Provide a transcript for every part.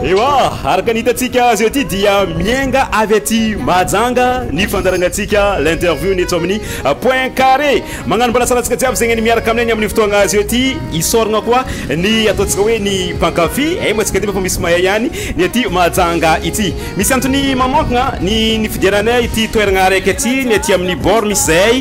Ewa, araka ny hitantsika azy ety dia miainga avy aty Mahajanga ny fandarangantsika l'interview ny eto amin'ny point carré. Magnano mbalasalantsika jiaby zegny ny miaraka aminay ny amin'ny fotoagna azy ety hisaoragna koa ny ataontsika hoe ny mpankafy. Eh, moa tsika ty fa misy mahay ihany ny aty Mahajanga ity. Misy antony manonkagna ny nifidiananay ity toeragna araiky ity ny aty amin'ny bord misy zahay.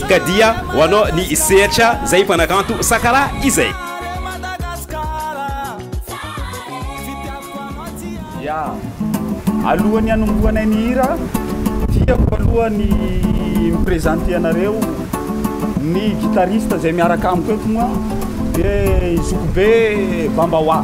Ka dia ho anao ny sehatra zay mpanakanto sakara izay. Ya! Alohan'ny hanombohanay ny hira, tiako aloha ny mi-presenter anareo ny guitariste izay miaraka amiko eto moa dia i Zokibe Bambawa.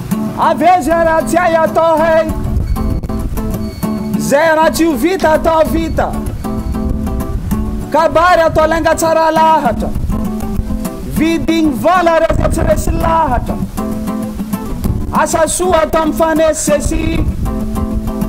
Avia zay raha tsy hay atao hay Zay raha tsy ho vita atao vita Kabary atao lainga tsara lahatra Vidigny vola reo fa tsy resy lahatra Asa soa atao mifanesisesy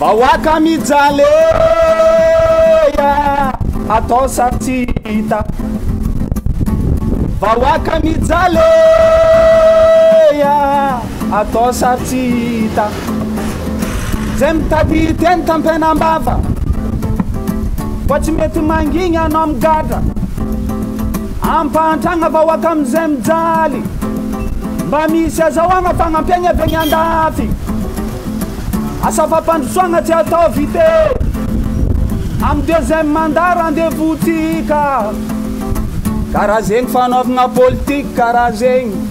Vahoaka mijaly ey a! atao sary tsy hita Vahoaka mijaly ey a! Atao sary tsy hita Zay mitady teny tampena am-bava Fa tsy mety mangigny anao migadra Ampahantragna vahoaka am'izay mijaly Mba misy azahoagna fagnampiagna avy agny andafy Asa fampandrosoagna tsy atao vite Amy deuxième mandat rendez-vous-tsika Karaha zegny fanaovagna politika karaha zegny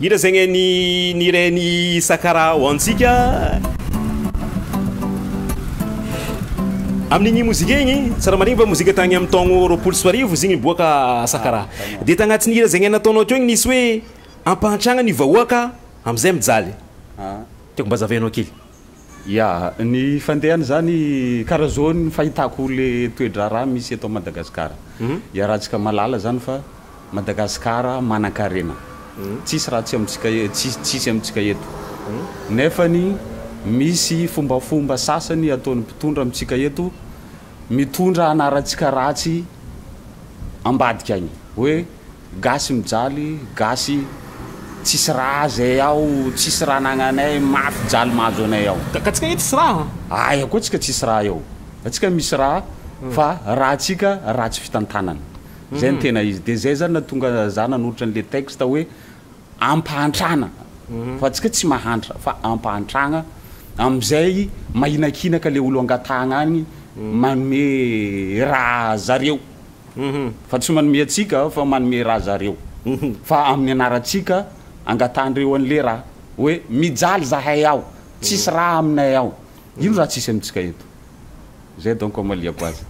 Hira izay ny ny niren' i Sakara ho antsika amin' igny mozika igny. Tsara marigny fa mozika tagny amin' ny taogno roapolo sy roa arivo izy igny niboaka Sakara. Dia tagnatin' ny hira izay ny nataonao teo igny nisy hoe ampahantragna ny vahoaka amy izay mijaly. Tiako mba hazavainao kely. Ya, ny fandehany zany kara zao ny fahitako le toe-draharaha misy eto Madagasikara. Iarahantsika mahalala zany fa Madagasikara manankarena. Tsisy raha tsy amintsika tsisy amintsika eto. Nefany misy fombafomba sasany ataon'ny mpitondra amintsika eto mitondra anarantsika ratsy ambadika agny. Hoe. Gasy mijaly gasy tsisy raha zay ao tsisy raha nagnanay mafy jaly mahazo anay ao. Ka tsika eto tsisy raha. Aia koa tsika tsisy raha eo atsika misy raha fa raha tsika raha tsy fitantanana zay no tena izy de zay zany natonga za nanolotra anle texte hoe ampahantrana fa tsika tsy mahantra fa ampahantragna amizay mahinakinaka le olo angatahagna agny manome raha zareo. Fa tsy manome antsika aho fa manome ra zareo Fa amin'ny anarantsika angatahandreo an'le ra Hoe mijaly zahay ao tsisy ra aminay ao Ino ra tsisy amintsika eto Zay donc amaliako azy.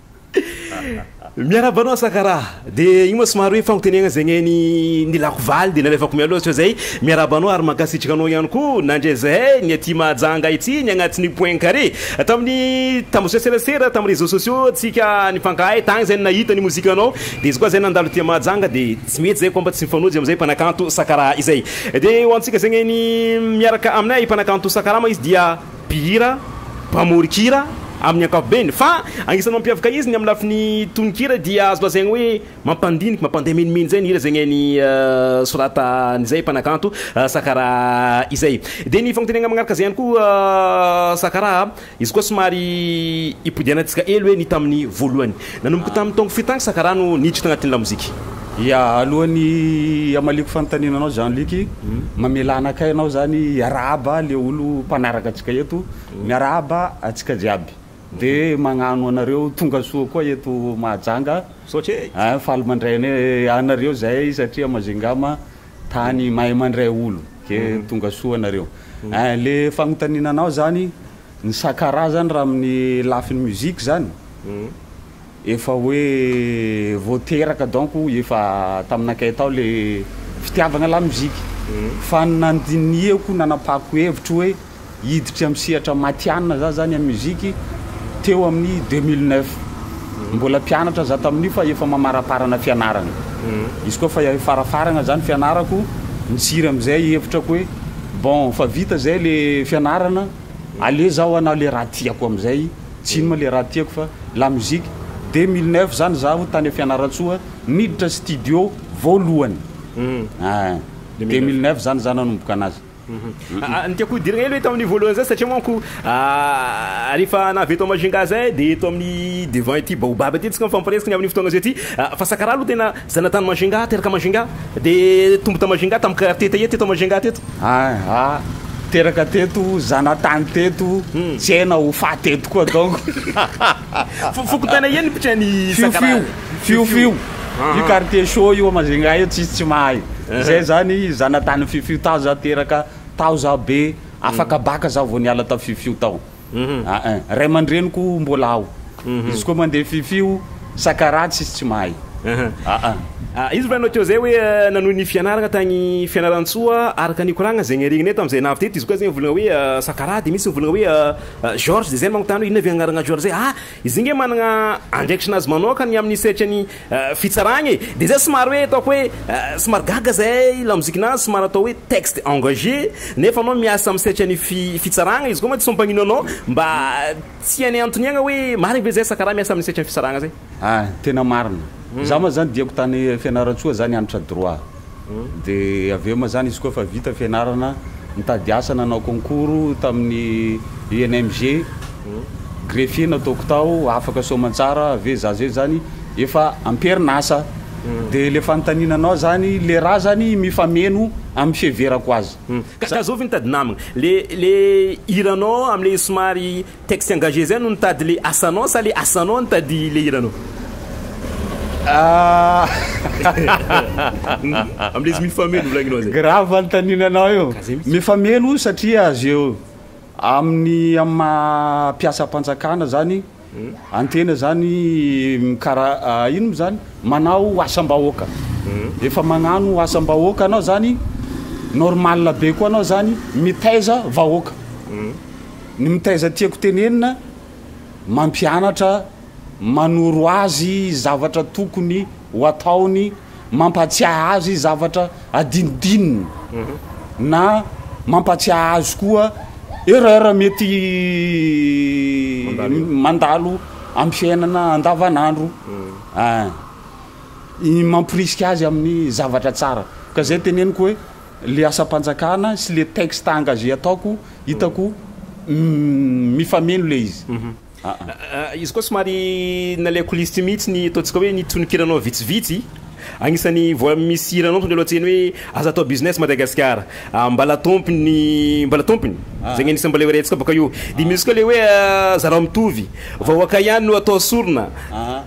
Miarahaba anao Sakara. Dia io moa somary hoe fagnontenegna zegny e, ny ny lako valy dia nalefako mialoha sao zay. Miarahaba anao ary mankasitraka anao ihany koa nandre zahay ny aty Mahajanga ity ny agnatin'ny point carré. Tamin'ny tambazotra serasera, tamin'ny réseaux sociaux tsika nifankahay tagny zay nahita ny mozikanao de izy koa zay nandalo tia Mahajanga de tsy mety zay koa mba tsy mifanojo amizay mpanakanto sakaraha izay de ho antsika zay anie ny miaraka aminay mpanakanto sakarama izy dia mpihira mpamorikira amin'ny ankapobeny fa agnisan'ny mampiavaka izy ny amin'ny lafiny tononkira dia azo lazaigny hoe Mampandinika, mampandeha menomenona izay ny hira izay ny an'i Sorata an'izay mpanakanto Sakara izay. Dia ny fagnontenegna magnaraka izay ihany koa Sakara a, izy koa somary ipodianantsika hely hoe ny tamin'ny voalohany. Nanomboka tamin'ny taongo firy tagny Sakara no niditra tagnatin'ny lamozika? Ya, alohan'ny hamaliako fanontaniana anao Jean Luc, mamelà anakay anao zany hiarahaba le olo mpanaraka antsika eto, miarahaba antsika jiaby. De magnano anareo tonga soa koa eto Mahajanga a! Faly mandray an anareo zahay satria Majingama tany mahay mandray olo ke tonga soa anareo. A le fagnontaniana anao zany ny sakarazany raha amin'ny lafiny musique zany Efa hoe vao teraka donc efa taminakay tao le fitiavagna la musique fa ny nandinihako nanapahako hevitro hoe hiditra am sehatra matianina za zany am musique teo amin'ny deux mille neuf mbola mpianatra za tamin'io fa efa mamaraparana fianaragna izy koa fa farafaragna zany fianarako nitsiry amizay hevitrako hoe bon fa vita zay le fianarana aleo zaho hanao le raha tiako amizay Tsy ino ma le raha tiako fa la musique. Dès mille neuf zany zaho tany a Fianarantsoa niditra studio voalohany. Ahh. Dès mille neuf zany za nanomboka anazy. Ny tiako hodirina kely hoe tamin'io voalohany zay satria manko rehefa na avy eto Majunga zay dia eto amin'ny devant ity baobab ity tsika mifampiresaka ny amin'ny fotoana zao ity fa sakaraha aloha tena Zanatany Majinga teraka Majinga dia tombo tao Majinga tamin'ny karate teie teto Majinga teto. Aha, teraka teto, zanatany teto, tsy hay na ho faty eto koa donc. Fo, fokontany aia ny mpitray ny Fiofio, Fiofio, io quartier chaud io a Majinga io tsisy tsy mahay. Zay zany zanatany Fiofio, tao za teraka, tao za be, afaka baka za vao niala tao Fiofio tao. aa ray aman-dreniko mbola ao izy koa mandeha fifio sakaraha tsisy tsy mahay aa. Izy no nanao teo zay hoe nanohy ny fianarana tany Fianarantsoa araka ny nikoragna zegny regniny tamy zay navy teto izy koa zegny volagna hoe sakaraha de misy mivolagna hoe Georges de zay manontany hoe inona ve agnarana Georges zay aa Izy nge managna andraikitrinazy manoaka ny aminy sehatra ny fitsaragna e, de zay somary hoe ataoko hoe somary gaga zay lamozikinazy somary atao hoe texte engage nefa anao miasa aminy sehatra ny fitsaragna izy koa mantsy sao mpagnino anao mba tsy hainay antoniagna hoe marigny ve zay sa karaha miasa aminy sehatra ny fitsaragna zay. Ah, tena marina. Za ma zany diako tany Fianarantsoa zany hanitra droit. Dia avy eo ma zany izy koa efa vita fianarana, nitady asa nanao concours tamin'ny UNMG, greffier nataoko tao, afaka soamantsara, avy eo za zay zany efa am-perin'asa. Dia le fanontaniana anao zany, le rà zany mifameno amin'ny fiheverako azy. Ka zao ve mitady namagna? Le le hiranao amle somary Texte engagé zay no nitady le asanao sa le asanao nitady le hiranao? Amin'ilay izy mifameno volagninao zay. Grave ny taninanao io. Mifameno satria azy eo amin'ny amin'ny maha mpiasam-panjakana zany antena zany mikara ino mo zany manao asam-bahoaka. Efa magnano asam-bahoaka anao zany normal be koa anao zany mitaiza vahoaka. Ny mitaiza tiako tenenina, mampianatra, manoro azy zavatra tokony ho ataony, mampatsiahy azy zavatra adinodinony, na mampatsiahy azy koa erreur mety mandalo amin'ny fiainana andavanandro, mamporisika azy amin'ny zavatra tsara, ka izay teneniko hoe le asam-panjakana sy le texte engagé ataoko hitako mifameno le izy aa. Izy koa somary nalay coulisse teo mihitsy ny ataontsika hoe ny tonon-kiranao vitsivitsy, agnisan'ny voa misy hiranao tonga aloha an-tsehany hoe aza atao business Madagasikara a, mbala tompiny mbala tompiny, zegny agnisan'ny mbala iarahantsika bôka io, de misy koa le hoe zarao mitovy, vahoaka ihany no atao sorona.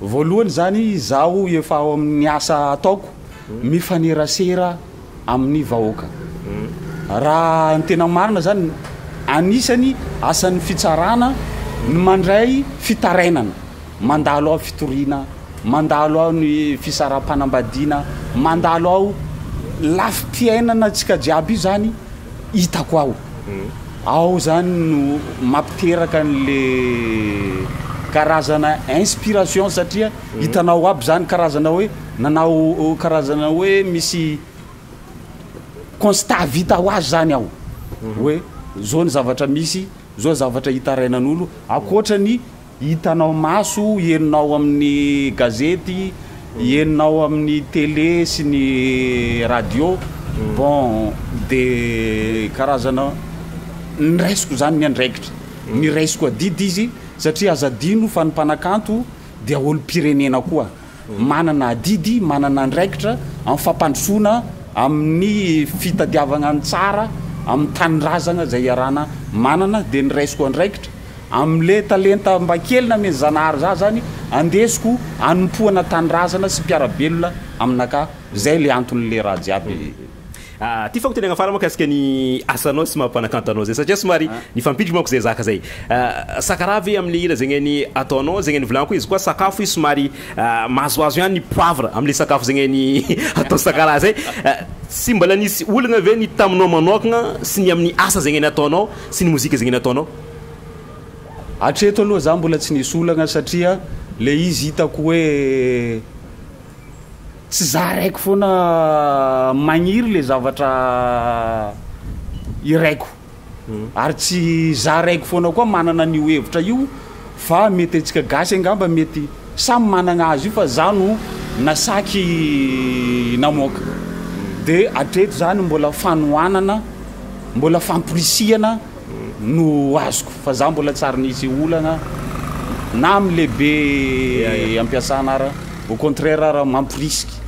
Voalohany izany izaho efa ao amin'ny asa ataoko mifanerasera amin'ny vahoaka. Raha ny tena marina izany, anisany asan'ny fitsarana ny mandray fitarainana, mandalo aho fitoriana, mandalo aho ny fisaraham-panambadiana, mandalo aho lafim-piainana antsika jiaby io izany hitako ao. Ao zany no mampiteraka anle karazana inspiration satria hitanao aby zany karazana hoe nanao karazana hoe misy constat vita ho azy zany ao hoe zao ny zavatra misy zao zavatra hitarainan'olo ankoatra ny Hitanao maso, henonao amin'ny gazety, henonao amin'ny télé sy ny radio, bon de karazana niraisiko zany ny andraikitra, niraisiko adidy izy satria aza adino fa ny mpanakanto dia olom-pirenena koa. manana adidy, manana andraikitra amin'ny fampandrosoana, amin'ny fitadiavana ny tsara, amin'ny tanindrazana izay iarahana manana, dia ny raisiko andraikitra amin'ilay talenta mba kely namen'i Zanahary zah zany, andesiko hanompoana tanindrazana sy mpiara-belona aminakahy, zay ilay anton'ilay raha jiaby. Aah ty fagnotaniagna farany mahakasika ny asanao sy maha-mpanakanto anao zay satria somary nifampiditry manko zay zaka zay. Aah saka raha ve amle hira zegny ny ataonao zegny ny volagno izy koa sakafo izy somary aah mahazoazo ihany ny poivre amle sakafo zegny ny atao saka raha zay. Aah tsy mbala nisy olagna ve ny taminao manokagna sy ny aminy asa zegny ny ataonao sy ny mozika zegny ny ataonao? Hatreto aloha za mbola tsy nisy olagna satria le izy hitako hoe Tsy za raiko foana magniry le zavatra iraiko ary tsy za raiko foana koa manana an'io hevitra io fa mety antsika gasy angamba mety samy managna azy io fa za no nasaky namoaka de atreto zany mbola fanohanana mbola famporisihana no azoko fa za mbola tsary nisy olana na am lehibe ampiasana ara au contraire ara mamporisika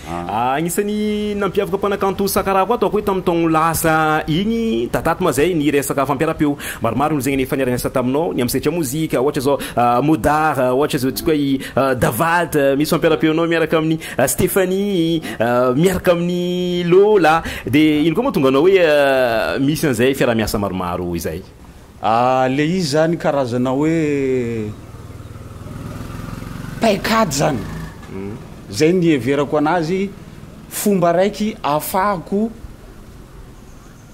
Agnisan'ny nampiavaka mpanakanto Sakarako ato akoy tamin'ny taogno lasa igny Tataty ma zay ny resaka fampiara-peo maromaro no zegny efa niara-niasa taminao ny am Setra mozika ohatra zao Modar ohatra zao tsy koa i Davalta misy fampiara-peonao miaraka amin'ny Stephanie miaraka amin'ny Lola dia ino koa moa tonga anao hoe misy an'izay fiarahamiasa maromaro izay? Le izy zany karazana hoe paikady zany zay ny iheverako anazy fomba raiky ahafahako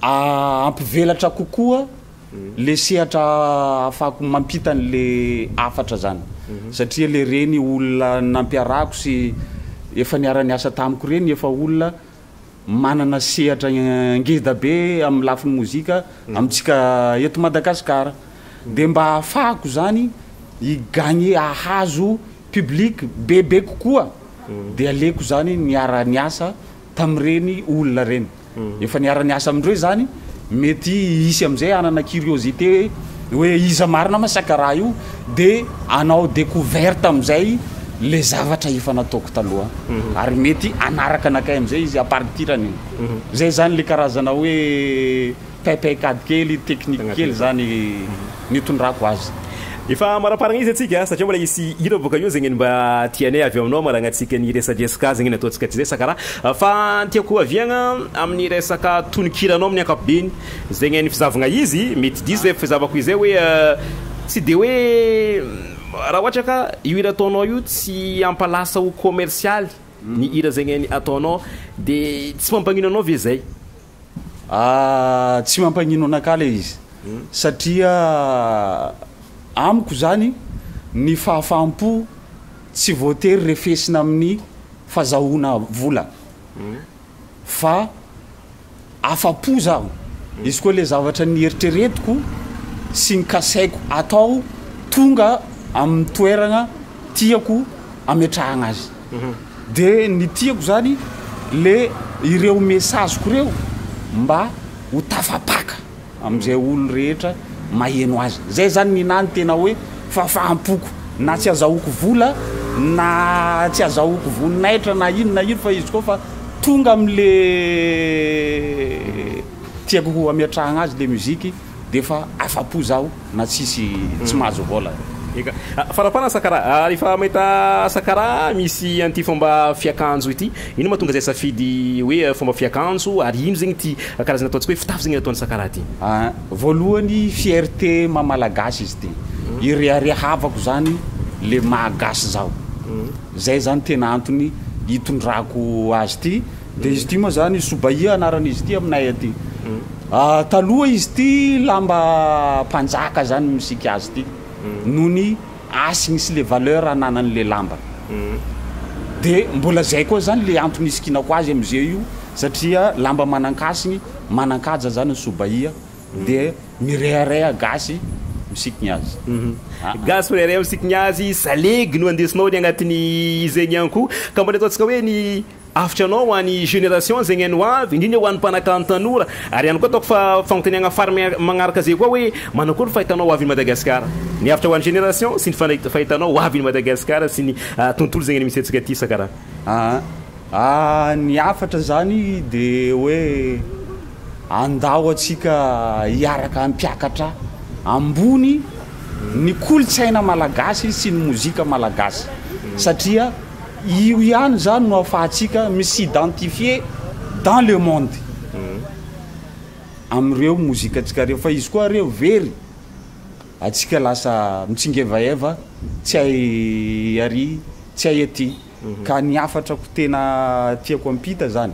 ampivelatra kokoa le sehatra afahako mampita ny le hafatra zany satria le reny olona nampiarahako sy efa niara niasa tamiko reny efa olona manana sehatra ngeda be amin'ny lafiny mozika amintsika eto Madagascar de mba hafahako zany hi gagner hahazo public bebe kokoa de aleko zany miara niasa tamin'ireny olona ireny efa niara-niasa amin'ireo izany, mety hisy amin'izay hanana curiosité hoe hoe iza marina ma saka raha io dia hanao découverte amin'izay ilay zavatra efa nataoko taloha ary mety hanaraka anakay amin'izay izy à partir an'iny. Izay izany ilay karazana hoe Paikady kely, technique kely zany nitondrako azy. Efa amaraparagna izy atsika satria mbola hisy hira boka io zegny mba tianay avy aminao maragnatsika ny resadresaka azy zegny ataontsika tsy zay sa kara fa tiako ohaviagna amin'ny resaka tononkiranao amin'ny ankapobeny zegny ny fizahavagna izy mety diso zay fizahavako izay hoe tsy de hoe raha ohatra ka io hira ataonao io tsy hampalasa ho commercialy ny hira zegny ataonao de tsy mampagnino anao ve zay Ah, tsy mampagnino anakahy ilay izy. Satria amiko izany, ny fahafaham-po tsy voatery refesina amin'ny fazahoana vola. Fa afa-po izaho, izy koa ilay zavatra nieritreretiko sy ny kasaiko atao tonga amin'ny toerana tiako ametrahana azy. De ny tiako zany le ireo message-ko ireo mba ho tafapaka amzay olo rehetra maheno azy zay zany ny nahy ny tena hoe fafaham-poko na tsy azahoako vola na tsy azahoako voninahitra na ino na ino fa izy koa fa tonga amle tiako ho ametrahagna azy le musique dia efa afa-po zaho na tsisy tsy mahazo vola. Eka. Farapana Sakara, rehefa mahita Sakara misy an'ity fomba fiakanjo ity, inona mahatonga izay safidy hoe fomba fiakanjo ary ino zegny ty karazana ataontsika hoe fitafy zegny ataon'i Sakara ty? Aa voalohany fierté maha malagasy izy ty, ireharehavako zany le maha gasy zaho, zay zany tena antony itondrako azy ty. Dia izy ity moa izany Soubahia anaran'izy ity aminay aty. Taloha izy ity lamba mpanjaka izany misika azy ity. Noho ny hasiny sy le valeur ananany le lamba. Dia mbola izay koa izany le antony isikinako azy amin'izay io satria lamba manan-kasiny, manan-kaja izany ny Soubahia dia mirehareha gasy misiky ny azy. Gasy mirehareha misiky ny azy, salegy no andesinao any agnatin'izegny ihany koa. Ka mbola ataontsika hoe ny. Hafatra anao ho any génération zegny any ho avy, indrindra ho any mpanakanto tanora, ary ihany koa ataoko fa fanontaniagna fary magnaraka zay koa hoe manakory fahitanao ho avy ny Madagascar? Ny hafatra ho any génération sy ny fandraik- fahitanao ho avy ny Madagascar sy ny tontolo zegny any misy antsika ty saka raha. Aa ny hafatra zany de hoe andao atsika hiaraka hampiakatra ambony ny kolotsaina malagasy sy ny mozika malagasy satria Io ihany izany no ahafahantsika mi-s'identifier dans le monde amin'ireo mozikantsika ireo fa izy koa re very antsika lasa mitsingevaeva tsy hay ary tsy hay aty ka ny hafatrako tena tiako hampita izany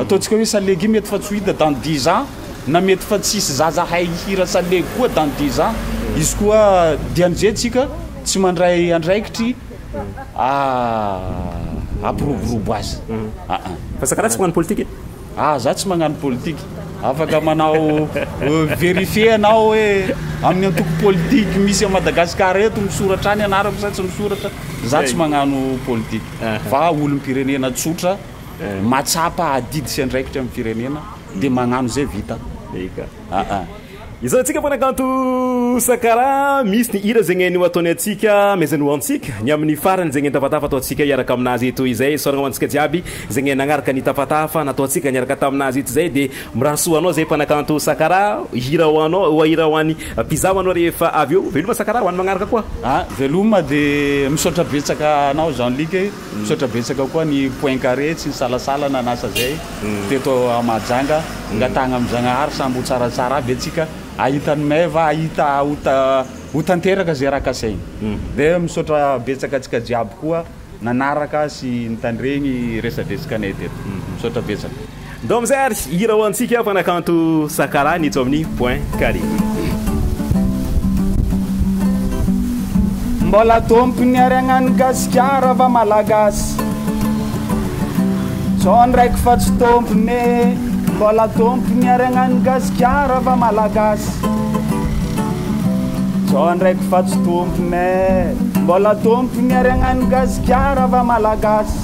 Ataontsika hoe salegy mety fa tsy ho hita dans dix ans na mety fa tsy hisy zaza hay hihira salegy koa dans dix ans izy koa dia amin'izay tsika tsy mandray andraikitry hampiroborobo azy aa. Fa sakaraha tsy magnano politika e. Ah za tsy magnano politika. Afaka manao verifier ianao hoe amin'ny antoko politique misy à Madagascar eto misoratra any anarako sa tsy misoratra. Za tsy magnano politika fa olom-pirenena tsotra. mahatsapa adidy sy andraikitra amin'ny firenena dia magnano izay vita. Eka. Aa. Izao antsika mpanakanto Sakara, misy ny hira zegny hainao ataony antsika, mezany ho antsika ny amin'ny farany zegny nitafatafa ataontsika hiaraka aminazy eto izay, isaoragna ho antsika jiaby zegny nagnaraka nitafatafa nataontsika niaraka taminazy eto izay dia mirary soa ho anao zay mpanakanto Sakara, hira ho anao, ho hira ho an'ny mpizaha ho anao rehefa avy eo, veloma Sakara ho an'ny magnaraka koa. Aa, veloma dia misaotra betsaka anao Jean Luc e. Misaotra betsaka koa ny point carré tsy nisalasala nanasa zay teto à Mahajanga angatahagna am Zagnahary samby ho tsaratsara aby atsika ahita ny meva ahita ho tanteraka zay raha kasaigny de misaotra betsaka atsika jiaby koa nanaraka sy nitandregny resadresakanay teto misaotra betsaka. Ndao amin'izay ary hira ho antsika mpanakanto Sakala ny eto amin'ny Point Carré. Mbola tompony ary agnano Gasikara va Malagasy Zao ndraiky fa tsy tompony e Mbola tompony ary agnano Gasikara va Malagasy Zao ndraiky fa tsy tompony e Mbola tompony ary agnano Gasikara va Malagasy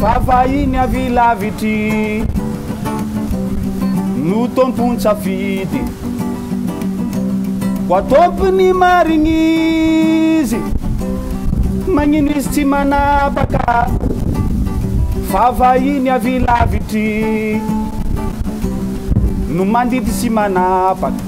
Fa vahiny avy lavitry no tompon-tsafidy Ho ataovy ny marigny izy Magnino izy tsy manapaka Fa vahiny avy lavitry no mandidy sy manapaka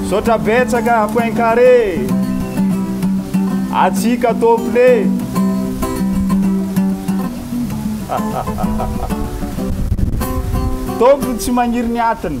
Misaotra betsaka point carré Atsika tople Tompo ny tsy magniry ny atiny